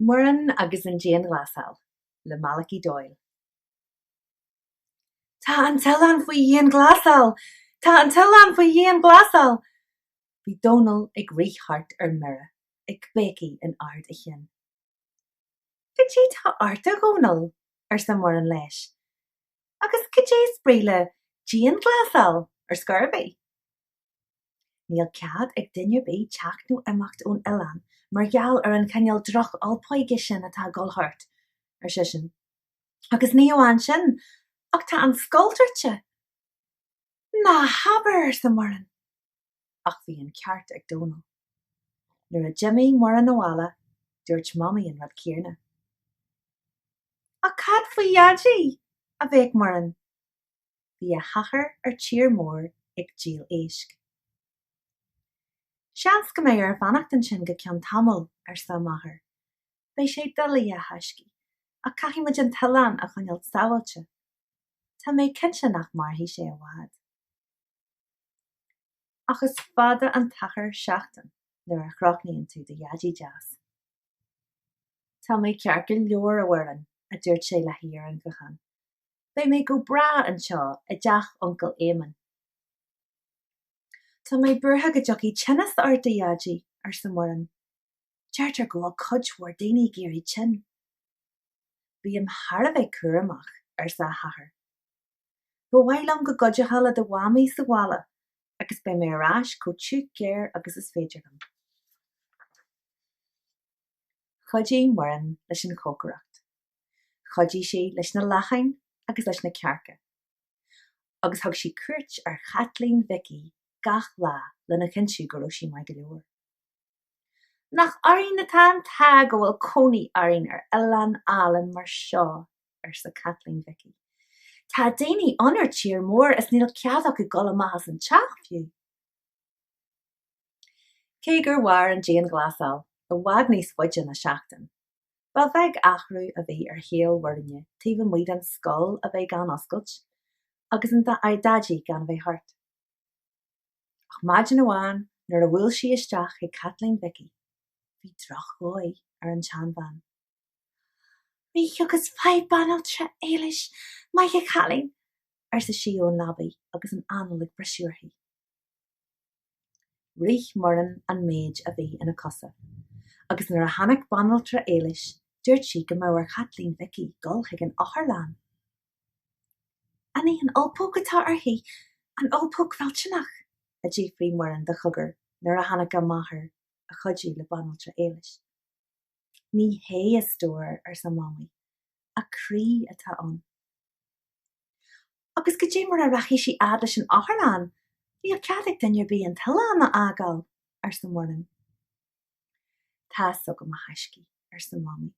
Muireann agus an Dianghlasáil le Malachy Doyle. Tá an t-oileán faoi dhianghlasáil! Tá an t-oileán faoi dhianghlasáil! Bhí Dónall ag rith thart ar mire, ag béicigh in ard a chinn. Goidé tá ort a Dhónaill, arsa Muireann leis. Agus cad é is brí le dianghlasáil ar scor ar bith? Níl cead ag duine ar bith teacht nó imeacht ón oileán mar gheall ar an chineál droch-ulpóige sin atá ag dul thart, ar seisean. Agus ní amháin sin ach tá an scoil druidte. Ná habair! arsa Muireann. ach bhí an ceart ag Dónall. Nuair a d'imigh Muireann abhaile, dúirt Mamaí an rud céanna. Ach cad faoi Dhaidí? a bhéic Muireann. Bhí a hathair ar tír mór ag díol éisc. Seans go mbeidh air fanacht ansin go ceann tamaill, arsa a máthair. Beidh sé doiligh, a thaiscí, ach caithfidh muid an t-oileán a choinneáil sábháilte. Tá mé cinnte nach mairfidh sé i bhfad. Ach is fada an t-achar seachtain nuair a chronaíonn tú do Dhaidí deas. Tá mé ceart go leor a Mhuireann, a dúirt sé léi ar an ghuthán. Beidh mé go breá anseo i dteach Uncail Éamonn. Tá mé buartha go dtiocfaidh tinneas ort, a Dhaidí, arsa Muireann. Deirtear go bhfuil cuid mhór daoine ag éirí tinn. Bím-se thar a bheith cúramach, arsa a hathair. Ba mhaith liom go gcuideofá le do mhamaí sa bhaile agus beidh mé ar ais chomh tiugh géar agus is féidir liom. Chuidigh Muireann leis an chócaireacht. Chuidigh sí leis na lachain agus leis na cearca. Agus thug sí cuairt ar Chaitlín Mhicí gach lá lena chinntiú go raibh sí maith go leor. Nach orainn atá an t-ádh go bhfuil cónaí orainn ar oileán álainn mar seo arsa Caitlín Mhicí. Tá daoine ann ar tír mór is níl cead acu dul amach as an teach fiú. Cé gur mhair an dianghlasáil i bhfad níos faide ná seachtain, ba bheag athrú a bhí ar shaol Mhuirinne taobh amuigh den scoil a bheith gan oscailt agus Daidí gan a bheith thart. Ach maidin amháin nuair a bhuail sí isteach chuig Caitlín Mhicí, bhí drochdhóigh ar an tseanbhean. Rith agus faigh banaltra Éilis maith a chailín, arsa sí ón leabaidh agus an anáil ag briseadh uirthi. Rith Muireann an méid a bhí ina cosa, agus nuair a tháinig banaltra Éilis dúirt sí go mbeadh ar Chaitlín Mhicí dul chuig an otharlann. An í an ulpóg atá uirthi, an ulpóg mhillteanach? a d'fhiafraigh Muireann de chogar nuair a tháinig a máthair a chuidiú le banaltra Éilis. Ní hé a stór, arsa Mamaí. A croí atá ann. Agus goidé mar a rachaidh sí fhad leis an otharlann? Níl cead ag duine ar bith an t-oileán a fhágáil, arsa Muireann. Tá's agam, a thaiscí, arsa Mamaí,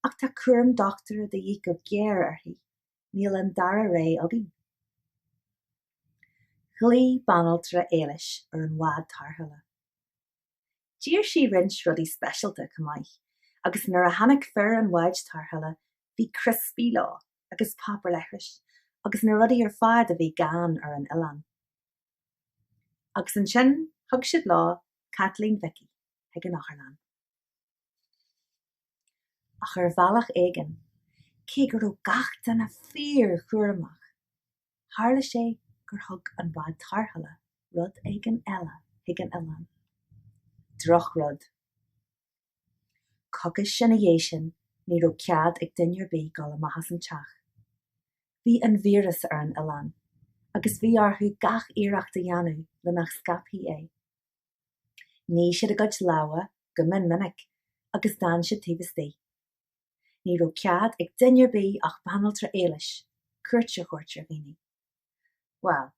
ach tá cúram dochtúra de dhíth go géar uirthi. Níl an dara ré againn. Ghlaoigh banaltra Éilis ar an bhád tarrthála. D'iarr sí roinnt rudaí speisialta chomh maith agus nuair a tháinig fir an bháid tarrthála bhí criospaí leo agus páipéar leithris agus na rudaí ar fad a bhí gann ar an oileán. Agus ansin thug siad leo Caitlín Mhicí chuig an otharlann. Ach ar bhealach éigin, cé go raibh gach duine fíor-chúramach, Tharla sé gur thug an Bád Tarrthála rud éigin eile chuig an oileán. Drochrud. Coicís ina dhéidh sin ní raibh cead ag duine ar bith dul amach as an teach. Bhí an víreas ar an oileán agus bhí orthu gach iarracht a dhéanamh le nach scaipfí é. Nigh siad a gcuid lámha go mion minic agus d'fhan siad taobh istigh. Ní raibh cead ag duine ar bith ach banaltra Éilis cuairt a thabhairt ar dhaoine. Bhuel,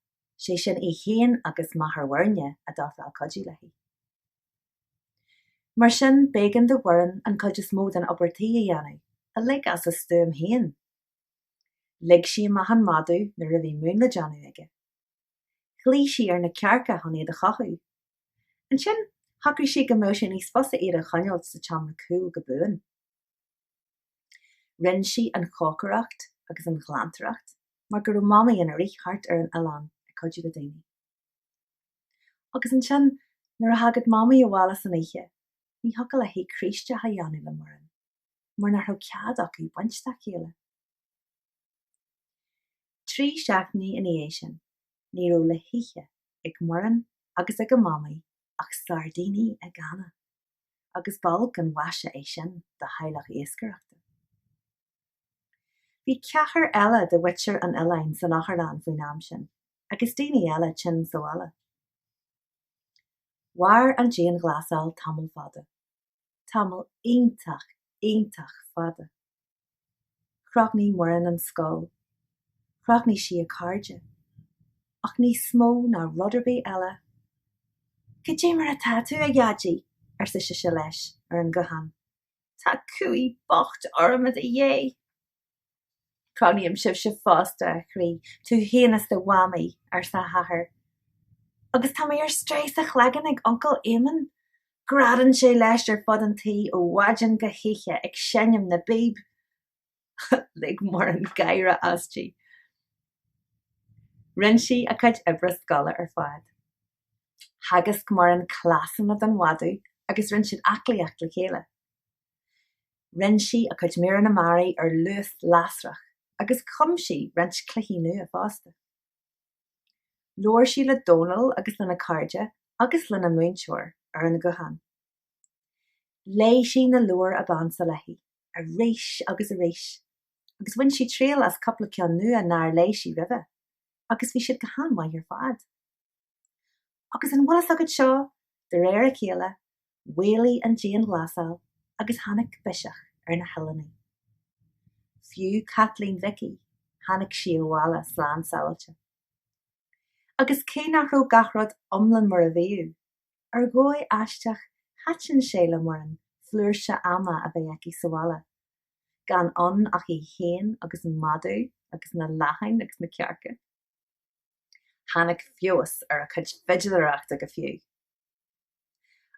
sé sin í féin agus máthair Mhuirne a d'ofráil cuidiú léi. Mar sin, b'éigean do Mhuireann an chuid is mó den obair tí a dhéanamh, uilig as a stuaim féin. Lig sí amach an madadh nuair a bhí mún le déanamh aige. Ghlaoigh sí ar na cearca chun iad a chothú. Ansin, shocraigh sí go mbeadh sé níos fusa iad a choinneáilt sa tseomra cúil go buan. Rinn sí an chócaireacht agus an ghlantaireacht mar go raibh Mamaí ina rith thart ar an oileán ag cuidiú le daoine. Agus ansin, nuair a thagadh Mamaí abhaile san oíche, ní thiocfadh léi croí isteach a dhéanamh le Muireann mar nach raibh cead acu baint dá chéile. Trí seachtainí ina dhiaidh sin, ní raibh le hithe ag Muireann agus ag a mamaí ach sairdíní i gcanna, agus b'olc an mhaise é sin do theaghlach iascaireachta. Bhí ceathrar eile de mhuintir an Oileáin san Otharlann faoin am sin, agus daoine eile tinn sa bhaile. Mhair an dianghlasáil tamall fada. tamall iontach, iontach fada. Chrothnaigh Muireann an scoil, chrothnaigh sí a cairde, ach níos mó ná rud ar bith eile, Cad é mar atá tú, a Dhaidí? arsa sise leis ar an ghuthán. Tá cumhaidh bocht orm i do dhiaidh! Crothnaím sibhse fosta, a chroí, tú féin is do mhamaí, arsa a hathair. Agus tá mé ar strae sa chloigeann ag Uncail Éamonn. Greadann sé leis ar fud an tí ó mhaidin go hoíche ag seinm na bpíb. Lig Muireann gáire aisti. Rinne sí a cuid oibre scoile ar fad. Theagasc Muireann cleasanna don mhadadh agus rinne siad aclaíocht le chéile. Rinne sí a cuid míreanna mearaí ar luas lasrach agus chum sí roinnt cluichí nua fosta. Labhair sí le Dónall agus lena cairde agus lena múinteoir ar an ghuthán. Léigh sí na leabhair ab ansa léi arís agus arís agus bhain sí triail as cúpla ceann nua nár léigh sí roimhe agus bhí siad go han-mhaith ar fad. Agus an bhfuil fhios agat seo, de réir a chéile, mhaolaigh an dianghlasáil agus tháinig biseach ar na hoileánaigh. Fiú Caitlín Mhicí, tháinig sí abhaile slán sábháilte. Agus cé nach raibh gach rud iomlán mar a bhíodh, ar dhóigh aisteach thaitin sé le Muireann flúirse ama a bheith aici sa bhaile, gan ann ach í féin agus an madadh agus na lachain agus na cearca. Tháinig feabhas ar a cuid fidiléireachta go fiú.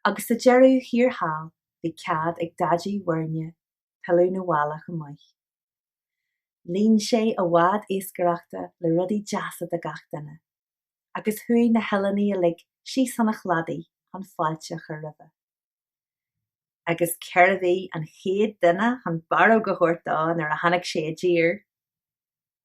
Agus sa deireadh thiar thall bhí cead ag Daidí Mhuirne pilleadh 'na bhaile chomh maith. Líon sé a bhád iascaireachta le rudaí deasa do gach duine, agus chuaigh na hoileánaigh uilig síos chun an chladaigh chun fáilte a chur roimhe. Agus cérbh í an chéad duine chun barróg a thabhairt dó nuair a tháinig sé i dtír?